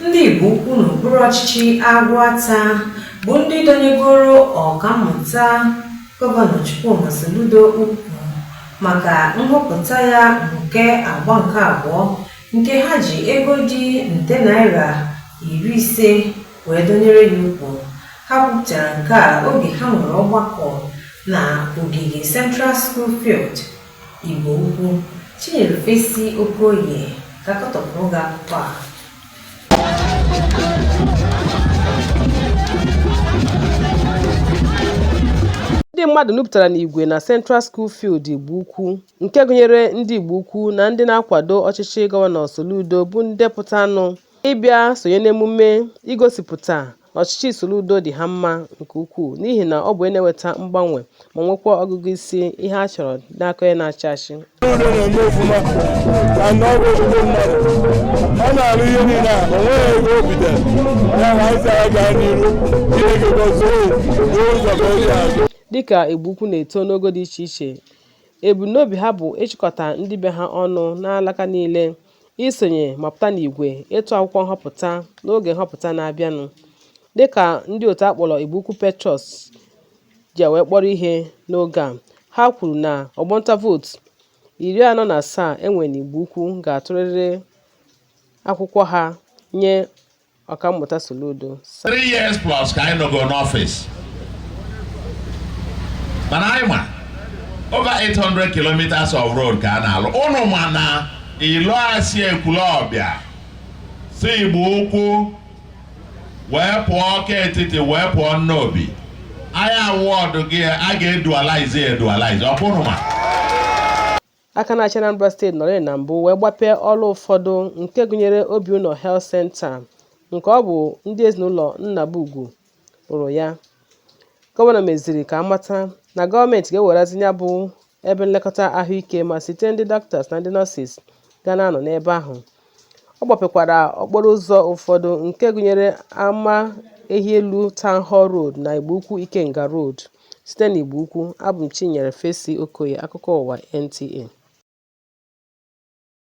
ndị Igbo Ukwu n'okpuru ọchịchị Aguata bụ ndị dọnyegoro ọkammụta gọvanọ Chukwuma Soludo ukwu maka nhọpụta ya nke agba nke abụọ nke ha ji ego dị nde naira iri ise wee dọnyere ya ukwu ha kwupụtara nke a oge ha nwere ọgbakọ na ogige Central School Field Igbo Ukwu, Chinyere Fesi Okoye ga-akọtọpụrụ gị akụkọ a. ndị mmadụ nupụtara n'igwe na Central School Field Igbo Ukwu nke gụnyere ndị Igbo Ukwu na ndị na-akwado ọchịchị Gọvanọ Soludo bụ ndị pụtanụ ịbịa sonye n'emume igosipụta na ọchịchị Soludo dị ha mma nke ukwuu n'ihi na ọ bụ onye na-eweta mgbanwe ma nwekwa ọgụgụ isi ihe a chọrọ n'aka onye na-achị achị. Soludo na-eme ofụma na na ọ bụ ezigbo mmadụ. Ọ na-arụ ihe niile a, o nweghị ego o bitere. Ya na anyị sara gaa n'iru, Chineke gọzie unu, buo ụzọ ka o ji azụ. Dịka Igbo Ukwu na-eto n'ogo dị iche iche, ebumnobi ha bụ ịchịkọta ndị be ha ọnụ n'alaka niile isonye ma pụta n'igwe ịtụ akwụkwọ nhọpụta n'oge nhọpụta na-abịanụ dịka ndị otu a kpọrọ Igbo Ukwu Patriots ji wee kpọrọ ihe n'oge a ha kwuru na ọgbọ ntụ vootu iri anọ na asaa e nwere n'Igbo Ukwu ga-atụrịrị akwụkwọ ha nye Ọkammụta Soludo three years plus ka anyị nọgo n'ọfịs mana anyị ma over 800 kilometers of road ka a na-alụ unu ma na ilo a si Ekwulọbịa si Igbo Ukwu wee pụọ Ọka Etiti wee pụọ Nnobi anyị awọdụgo ya a ga-edualize edualize ọ kwa unu ma Aka na-achị Anambra steeti nọrịị na mbụ wee gbapee ọrụ ụfọdụ nke gụnyere Obiụnọ Health Centre nke ọ bụ ndị ezinụlọ Nnabugwu rụrụ ya. Gọvanọ meziri ka a mata na gọọmenti ga-ewerezi ya bụ ebe nlekọta ahụike ma zite ndị dọkịtas na ndị nọọsis ga na-anọ n'ebe ahụ Ọ gbapekwara okporo ụzọ ụfọdụ nke gụnyere ama ehi elu Town Hall Road na Igbo Ukwu Ikenga Road site n'Igbo Ukwu. Abụ m Chinyere Fesi Okoye, akụkọ ụwa NTA.